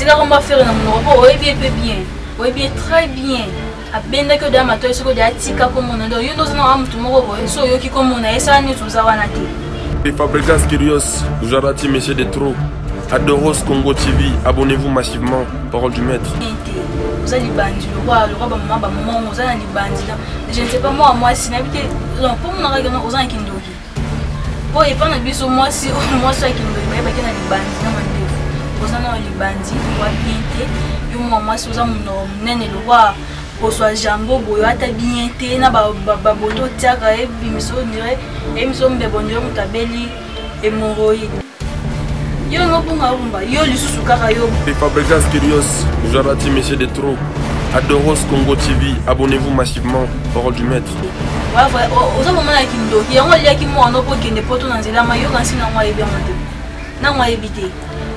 tika komba fere na monoko mpo oyebi ye mpe bien oyebi ye très bien abendaki odeya matoi soki odeya tika komona nde oyo nde oza nanga motu moko boye so oyoki komona ye sala nyonso oza wana te Fabricas Kirios, Jarati, Monsieur de Trop, Adoros Congo TV, abonnez-vous massivement, parole du maître. oza libandi lokola lokola bamama bamama oza na libandi je ne sais pas mwa mwasi nayebi te mpo monaka oza na kindoki oyo epa na biso mwasi oyo mwasi ya kindoki bayebaki na libandi na mandefu oza na libandi wa bien te yo mwa mwasi oza monoko monene lokwa kozwa jambo boyo ata bien te na baboto otiaka ebimiso dire ebimiso mbebo ndire moto abeli hemoroïde yo nobunga obumba yo lisusu kaka yo fabrigas kirios jarati monsieur de trop adoros congo tv abonnez-vous massivement parole du maître oza komona ya kindoki yango aliaki mwana mpo okende poto na nzela ma yoka nsi nango ayebi yango te nango ayebi te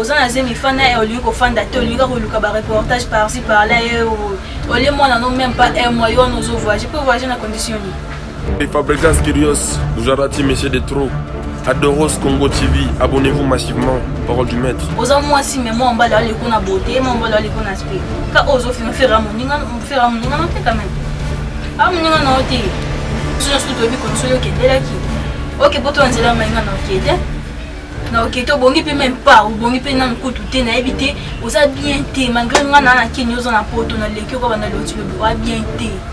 oza na zemi fanda ye olingi kofanda te olingi kaka koluka bareportage parci parla ye olie mwana no meme pas un mois yo wana ozo voyage mpo voyage na condition nini Les fabricants curios, Gujarati, Monsieur de Trop, Adoros Congo TV, abonnez-vous massivement, parole du maître. Oza mwasi mais moi mbala ali kuna beauté, moi mbala ali kuna aspect. Ka ozo fina faire moninga, faire moninga na te quand même. Ah moninga na ote. Sio sio tobi konsolo kendela ki. OK, poto nzela mainga na okede. Na okete obongi pe même pas, obongi pe na nkutu te na yebi te, oza bien te, malgré nga na na kini oza na poto na leki ko banda loti lobi, oza bien te.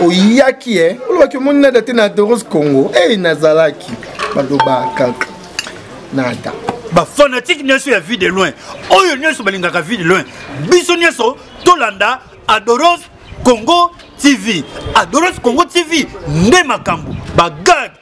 oyaki e olobaki omoni nada te na doros congo ei nazalaki baloba kaka nada bafanatike nyonso ya vie de loin oyo nyonso balingaka vie de loin biso nyonso tolanda adoros congo tv adoros congo tv nde makambo bagade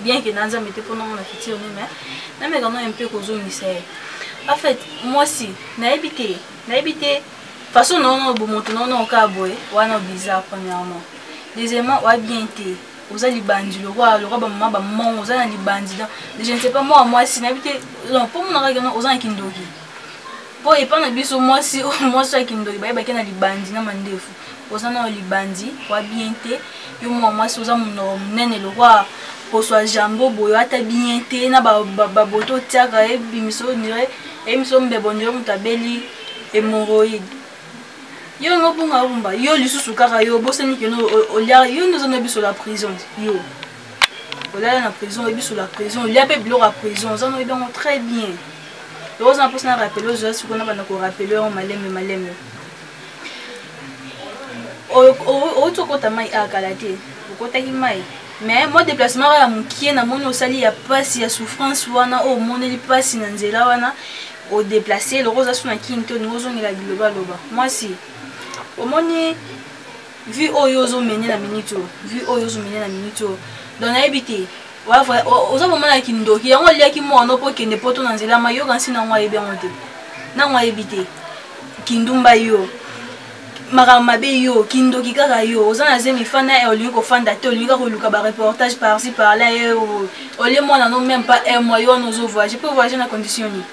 bien que na nzambe te mpo namona futur ne mais nameka no mpe kozongisa ye en fait mwasi nayebi te nayebi te façon naono bomoto naono okaa boye wana bizarre premièrement deuxièmement oya bien te oza libandi lokola lokola bamama bamongo oza na libandi donc je ne sais pas mwana mwasi nayebi te mpo monaka keno oza na kindoki mpo epa na biso mwasi mwasi ya kindoki bayebaki na libandi na mandefu oza nayo libandi wa bien te yo mwa mwasi oza monoko monene lokwa poso ya jambo boyo ata bien te na baboto otiaka ebimiso ondire eyebimiso mbebo ondire moto abeli hemoroïde yo yango bonga bomba yo lisusu kaka yo obosani keno olia yo nde oza na biso la prison yo olala na prison oyebi solo ya prison olia mpe biloko ya prison oza noyebi yango très bien yango oza na mposa na rappele ozoya sikoyo na banda korapele yango malembe malembe outi okota mai akala ah, te okotaki mai mais mwa déplacement kaka ya mokie namoni osali ya mpasi ya souffrance wana oyo omoneli mpasi na nzela wana odeplace eloko oza so na kini te olingi ozongela bilobaloba mwasi omoni vie oyo ozo mene na minute oyo vie oyo ozo mene na minute oyo donc nayebi te oza vraimen na kindoki yango oliaki mono mpo okende poto na nzela ma yoka nsi nango ayebi yango te nango ayebi te kindumba yo makambo mabe yo kindoki kaka yo oza na zemi fanda eh, olingi kofanda te olingi kaka koluka bareportage parci parla eh, oh, oh. olie mwana no meme pas un mois yo wana ozo voyage mpe voyage na condition nini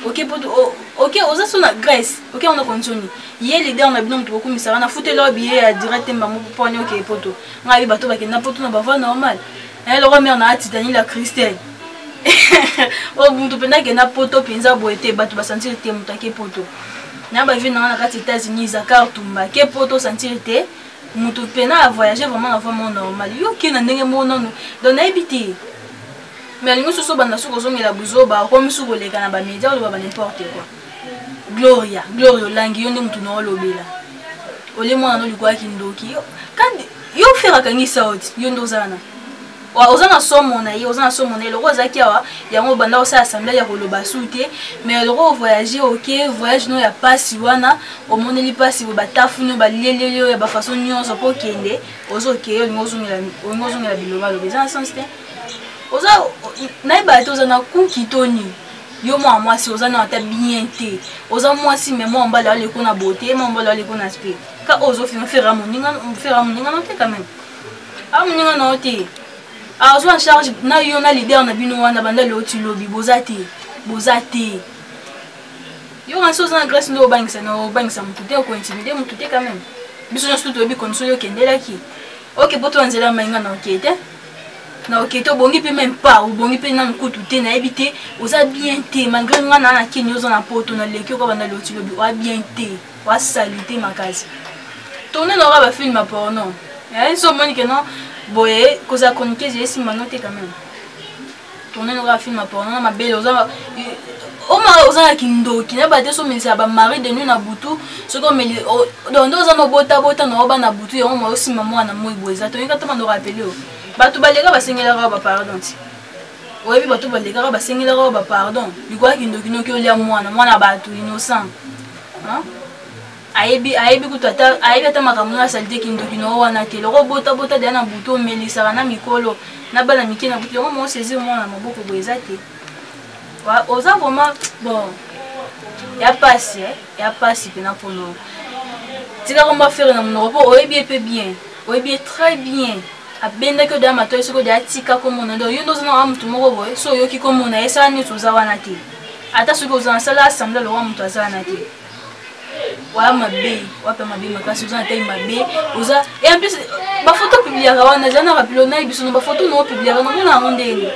oke poto oke oza so na grèce oke wana konzoni ye leader na bino moto bokumisaka na futeli oyo biye ya direct mbango mponi okeye poto ngai ye bato bakenda poto na bavoi normal eh, lokwa mare na ati daniela christelle oyo oh, moto mpenza akenda poto mpenza boye te bato basantire te moto ake poto na bavie na ngai na kati états-unis zakar tumba ke poto osantire te moto mpenza avoyage vraiment na vraiment normal yo oke na ndenge moko nano don nayebi te Mais alingi soso banda suko zongela buzoba okomi suko leka na ba media oloba ba n'importe quoi. Gloria, Gloria olangi yo nde mutu na olobela. Ole mwana no likuwa kindoki. Kandi yo fera kangi sauti yo nde ozana. Wa ozana somo na ye, ozana somo na ye loko zaki awa yango banda osa assemblée ya koloba su te. Mais loko voyager OK, voyage no ya pasi wana omoneli pasi bo batafu no ba lele yo ya ba façon nyoso po kende ozo ke yo ngozongela ngozongela biloba lobe. Zana sens te. oza nayeba te oza na kuki to nini yo mwana mwasi oza na ata bien te oza mwasi me mwana mobali aleko na bote mwana mobali aleko na spe ka oyo ozofina fera moninga nao te kameme a moninga nao te azwa en charge na yo na leader na bino wana banda leo ti lobi boza te boza te yo kasi oza na grèce nde obangisa na obangisa motu te okointimide motu te kameme biso nyonso toyebi condition yo okendelaki oke po toya nzela mainga na oke te na oke te obongi mpe meme pas obongi mpe nanu kutu te nayebi te oza bien te malgré ngai naa na kini oza na poto na leki okoba na loti lobi oa bien te oa salite makasi tourne na oka bafilme ya porno eh, so omoni ke non boye kozala chroniqueuse esimba no te quand même tourne noka film ya porno na mabele oza oma oza na kindoki na bate somelisaka bamari de nuit na butu soki omeli donc nde oza nobotabota na oba na butu yango mwa osimba mwana moi boye eza toyika ta bando rapele o bato baleka basengelaka bapardon ti oyebi bato balekaka basengelaka bapardon likoya kindoki noki olya mwana mwana bato innocent ayebi ayebi kutu ata ayebi ata makambo na salite kindoki noo wana te loko bota bota deya na butu omelisaka na mikolo na bana mike na butu yango moo saisir mwana na maboko boye eza te oza vraiment bon ya pasi eh? ya pasi mpena mpono tika komba fere na monoko mpo oyebi ye mpe bien oyebi ye très bien abendaki odeya matoi soki odeya tika komona donc yo nde oza na wa motu moko boye so oyoki komona ye sala neti oza wana te ata soki oza na sala assemble lowa motu aza wana te wa mabe wape mabe makasi oza na tai mabe oza e en plus bafoto opubliaka wana eza na rapilo naye biso na bafoto na opubliaka nomona yango ndenge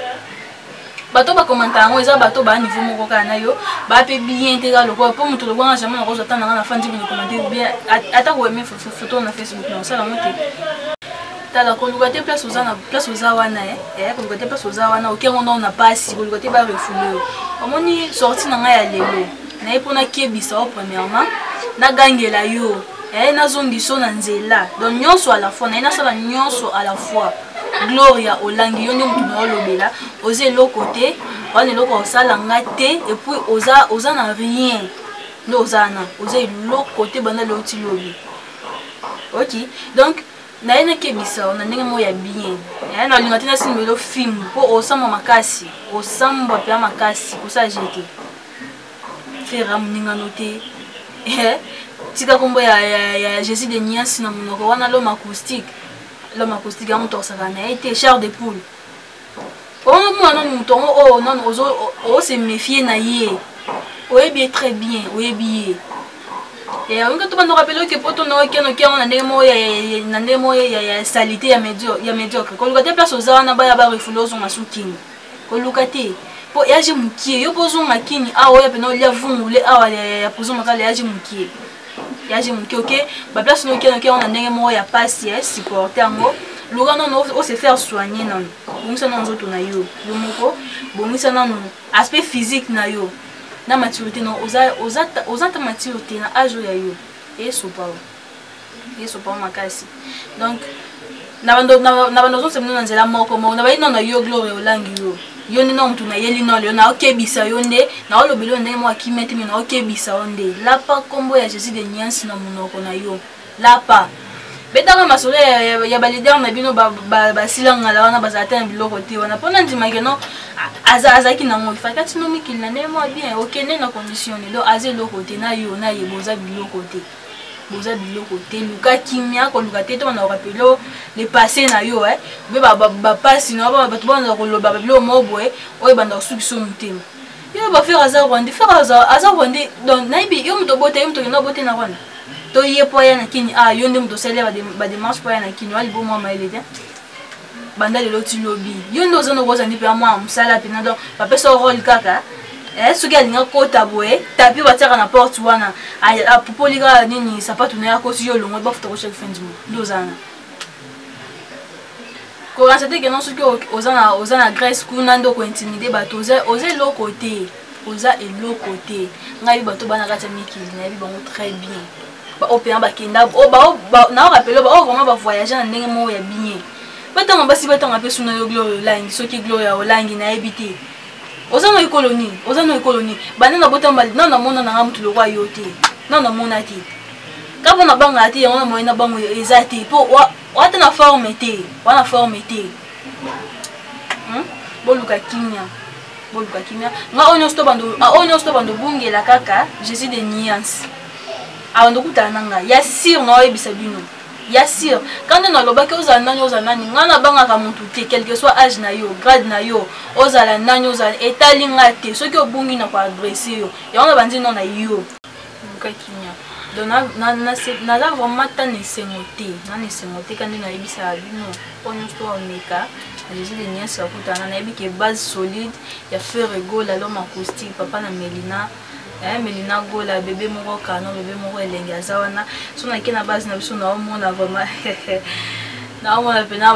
bato bakomanta yango eza bato baa niveau moko kaka na yo baa mpe bien te kaka lokola mpo moto lokola nga jamai nakozwa ata nanga na fandi bino komante bien ata koyeme foto na facebook na osala yango te tala koluka te place oza na place oza wana eh. eh koluka te place oza wana oke yango ndao na mpasi koluka te barefume yo omoni sorti na ngai ya lelo naye mpo nakebisa yo premièrement nagangela yo naye nazongiso na nzela donc nyonso à la fois naye nasala nyonso à la fois gloria olangi yo nde motu na olobela oza eloko te wana eloko osala nga te epuis oza, oza na rien nde oza wana oza eloko te banda leo ti lobi oki donc naye nakebisa yo na ndenge moko ya bien naye nalinga te nasimbelo fimbu mpo osambwa makasi osambwa mpenza makasi kosala jete fera moningano te eh, tika kombo ya, ya, ya jésus de niasi na monoko wana lome acoustique lome acoustique yango tokosaka na ye te char de poule omona nanu moto yango oyo oh, nanu ose méfie na ye oyebi ye très bien oyebi ye eh, olingi tobandaka pele oke poto na okenoki yango na ndenge moko na ndenge moko ya salite ya médiocre koluka te place oza wana baya barefule ozonga sukingi koluka te po ya je mukie yo po zonga kini awa oya pena olia vungule awa ya pozo makala ya je mukie ya je mukie oke ba place no kiana kiana na ndenge moko ya pasi ya supporter yango luka nanu o se faire soigner nanu bongisa nanu nzoto na yo yo moko bongisa nanu aspect physique na yo na maturité na oza oza oza ta mature te na age oyo ya yo esopa yo yesu pao makasi donc na bando ozosemino na nzela moko moko na bayino na yo gloria olangi yo yo nde na motu nayeli nolo yo naokebisa yo nde naolobela yo ndenge moko akimia te me naokebisa yo nde lapa nkombo ya jésus de niansi na monoko na yo lapa betanga masolo ya, ya, ya balidere na bino basila ngala wana bazala te na biloko te wana mpo nandimaki no azalaki nango fakati no mikili na ndenge mwa bien okende na condition ne do aza eloko te na yo na ye boza biloko te boza biloko te luka kimia koluka te to bandakoka pelo le passé na yo eh. mpe bapasi na yo bato banda koloba babiloko moko boye oyo ebanda kosukisa yo motema yo bafere aza rwande fere aza rwande donc nayebi yo moto obota yo moto okenda obote na rwanda to ye mpo aya na kini a ah, yo nde moto osali ya bademarche mpo aya na kini oya libomwa mayele te banda lelo ti lobi yo nde oza noko ozali mpe amwana mosala mpena donc bapesa role kaka eh, soki alinga kota boye tapi batiaka na porte wana apupoli kaka nini sapatu na ye akosi yo olongoli bafuta koshaki fin du mois nde ozana koransa te kena soki oza na grèce kuna nde okointimide bato oza eloko te oza eloko te ngai bato bana kati ya mikili nayebi bango très bien baoyo mpena bakenda nao rapele baoyo vraiment bavoyage na ndenge moko ya bien batanga basi batanga mpe suna yo gloria olangi soki gloria olangi nayebi te oza na ekolo nini oza na ekolo nini banda na botamba nao namona nanga motu lokwa yo te nao namona te ka mpo nabangaka te yango na moyena bango eza te mpo wata na forme te wana forme te hmm? boluka kimia boluka kimia nga oyo nyonso to bando ah, obungela kaka jésus de nuance abanda okutana na ngai ya sire na oyebisa bino ya sire kanda nalobaki ozala nani ozala nani ngai nabangaka motu te quelque soit age na yo grade na yo ozala nani ozala etali ngai te soki obungi na koadresse yo yango nabanzi no na yo lukakimia donc naza vraiment ta na esengo te na na esengo te kandi nayebisaka bino mpo nyonso omeka jesus de nyonso akutana nayebi ke base solide ya ferre gola loma acoustique papa na melina eh, melina gola bebe moko kano bebe moko elengi aza wana so nake na base na biso naomona vraiment naomona mpena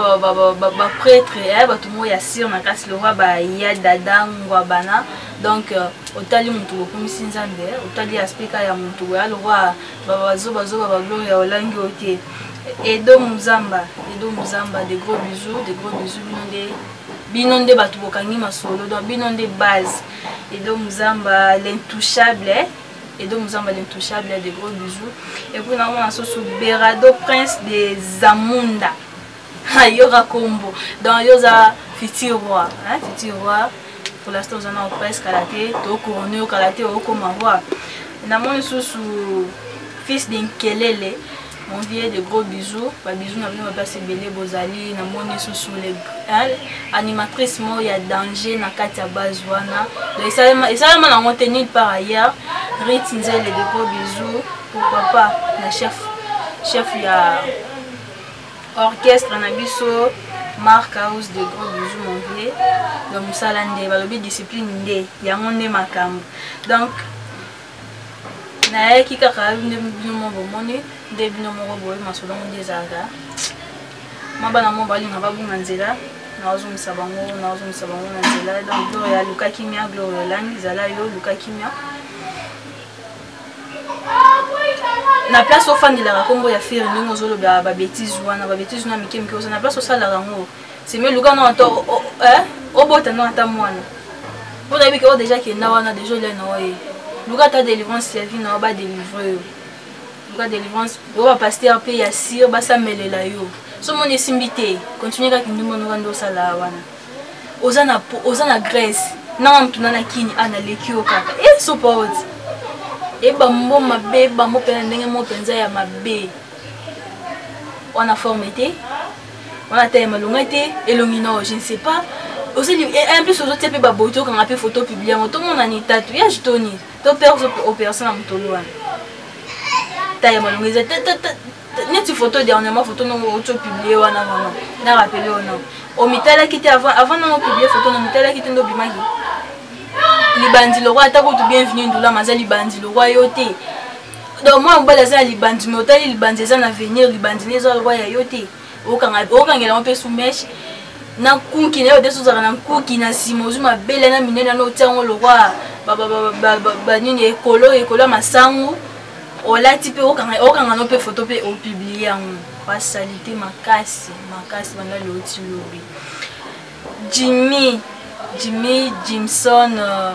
bapretre eh, bato moko ya sire na kati lokwa baya dada ngwa bana donc euh, otali motu bokomisi nzambe eh, otali aspect ka ya motu boya lokwa babazobazoba baglore ya olangi oyo te edo muzamba edo muzamba de gros bisous de gros bisous bino nde bino nde bato bokangi masolo donc bino nde base Edo Muzamba l'intouchable Edo Muzamba l'intouchable de gros bisous et puis na mona soso Berado prince de Zamunda ayoka kombo donc yoza futur roi hein futur roi pour l'instant oza na prince kala te to couronne yo kala te okoma roi na moni susu fils de Nkelele Mon vieux de gros bisous, ba bisous na bino bapasi ebele bozali na moni susu le animatrice moko ya danger na kati ya base wana donc esalema esalema nango te nulle part ailleurs rit nzele de gros bisous pourquoi pas na chef chef ya orchestre na biso mark house de gros bisous mon vieux donc mosala nde balobi discipline nde yango nde makambo donc nayaki kaka nde bino moko bomoni nde bino moko boye masolo yango nde ezalaka ma bana moko balinga babunga nzela naozongisa bango naozongisa bango na nzela donc gloria aluka kimia gloria olangi zala yo luka kimia na place ofandelaka nkombo ya fere ndenge ozolobela babetise wana babetise wana mike mike oza na place osalaka yango simi luka na ata eh, obota na ata mwana mpo nayebi ke o deja kenda wana deja olia na oye luka ata délivrance ya vie na yo badelivre yo luka délivrance oyo bapaster mpe ya sire basamelela yo so moni esimbi te continue kaka kindumba noka nde osala wana oza na, oza na grèce nanga motuna na kini a naleki yo kaka e eh, sopaoti e bambo mabe bambo mpe na ndenge moko mpenza ya mabe wana forme te wana taye malonga te elongi nao je ne sais pas osili eh, en plus ozotia mpe baboyi tokanga mpe foto publie yango tomonani tatu ya jitoni to mpe opération na motolo wana taye malonga eza neti foto dernièrement foto nongo otio publie wana vraiment na rappele wana omitalaki te avant avant nongo publie foto na omitalaki te nde obimaki libandi lokwa ata kutu bienvenu ndulama aza libandi lokwa yo te donc mwana mobali aza na libandi me otali libandi eza na avenir libandi ne eza lokwa ya yo te okangela yango mpe sumeshe na nkuki na yo te sozalaka na nkuki na nsima ozwi mabele na minene na otya yango lokwa banini ekolo ekolo ya masango olati mpe okanga no mpe foto mpe opiblie yango basalite makasi makasi banda leoti lobi jimmy jimmy jimson uh,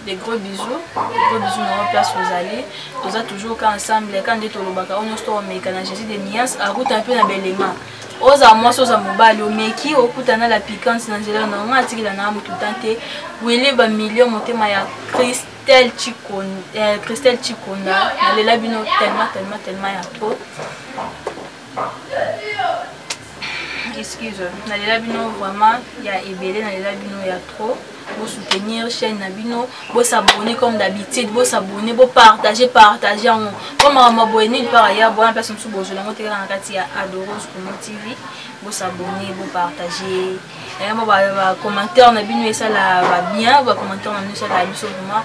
des gros bisous des gros bisous na place ozali toza toujours ka ensemble ka nde tolobaka oyo nyonso tokomeka na jésus de mias akuta mpe na belema oza mwasi oza mobali omeki okutana la piquante na nzela na yango atikela na motu tan te wili bamilio motema ya christelle chikonda eh, christelle chikonda nalela bino tellement tellement tellement ya trop excuse nalela bino vraiment ya ebele nalela bino ya trop bosoutenir chaîne na bino bosabone comme d'habitude bosabone bopartage partage yango mpo makambo boye nini par ailleurs bowana place mosusu bozwela yango te kaka na kati ya adoros komo tv bosabone bopartage yango bacommentaire na bino esala babien bacommentaire na bino esala biso vraiment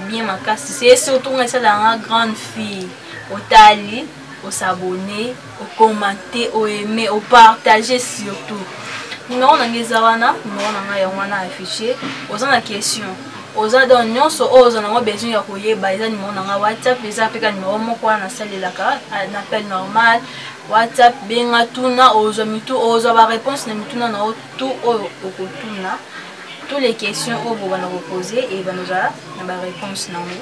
bien makasi se surtout nga esala yanga grande fille otali o s'abonner o commenter o aimer o partager surtout numero na ngai eza wana numero na ngai yango wana affiche oza na question oza donc nyonso oyo oza nango besoin ya koyeba eza numero na ngai whatsapp eza mpe ka numero moko wana nasalelaka na appel normal whatsapp benga tuna ozwa mitu ozwa baréponse na mituna na yo tu oyo okotuna tous les questions oyo bobana kopose ebana ozala na baréponse na yango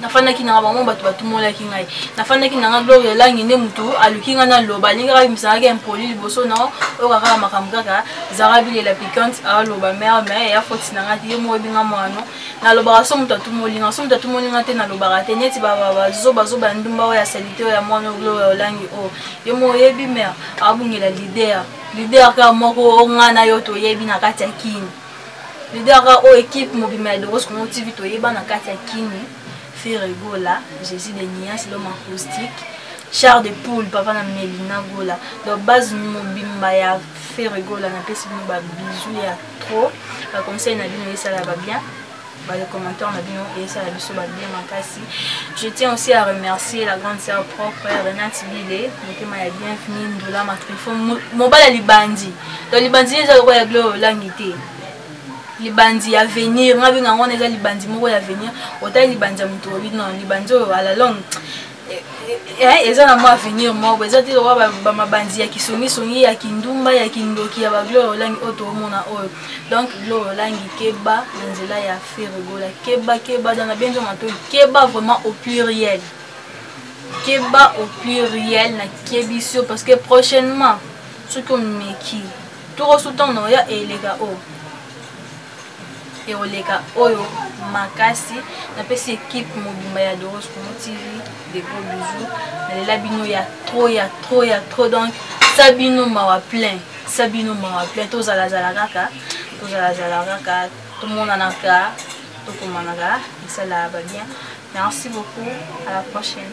nafandaki nanga bango bato batumolaki ngai nafandaki nanga gloria langi nde motu aluki ngai naloba alingi kaka bimisangaki impoli liboso na oyo kaka makambo kaka zara bilela piquante aloba mare me ya foti na ngai te ye moko ebinga mwano nalobaka so moto atumoli ngai so moto atumoli ngai te nalobaka te neti bazobazoba ya ndumba oyo ya salite oyo ya mwana gloria olangi oyo ye moko oyebi mare abungela lider lider kaka moko ongai na yo toyebi na kati ya kini lidera oyo ekipe mobima ya doros congo tv toyeba na kati ya kini fere gola jésus de nias loma acoustique char de poule papa na melina gola donc base mobimba ya fere gola napesi bino babizu ya trop baconseil na bino esalaka bien Bah, les commentaires na bino esala biso babie makasi je tiens aussi à remercier la grande sœur propre renate bile motema ya bienvenu ndola matrifo mobali ya libandi to libandi eza lokola ya gloire olangi te libandi ya venir nga benga yango wana eza libandi moko ya venir otali libandi ya moto obi non libandi oyo ala longue Eh, eza na mwa avenir moko eza te lokola bamabanzi ya kisongisongi ya kindumba ya kindoki ya baglore olangi oyo toomona oyo donc glore olangi keba na nzela ya feregola keba keba dana benzo matoi keba vraiment au pluriel keba au pluriel na kebisi yo parce que prochainement soki omeki tokosu ntango na oya eleka oyo ekoleka oyo makasi napesi ekipe mobimba ya doros congo tv de gros bisou nalela bino ya trop ya trop ya trop donc sa bino mawa plein sa bino mawa plein tozalazala kaka tozalazala kaka tomonanaka tokomanaka esala babien merci beaucoup à la prochaine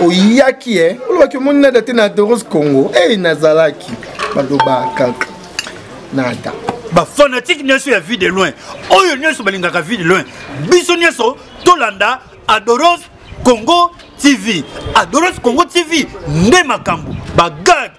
oyaki e olobaki omoni nada te na doros congo ei nazalaki baloba kaka nada bafanatike nyonso ya vie de loin oyo nyonso balingaka vie de loin biso nyonso tolanda adoros congo tv adoros congo tv nde makambo bagade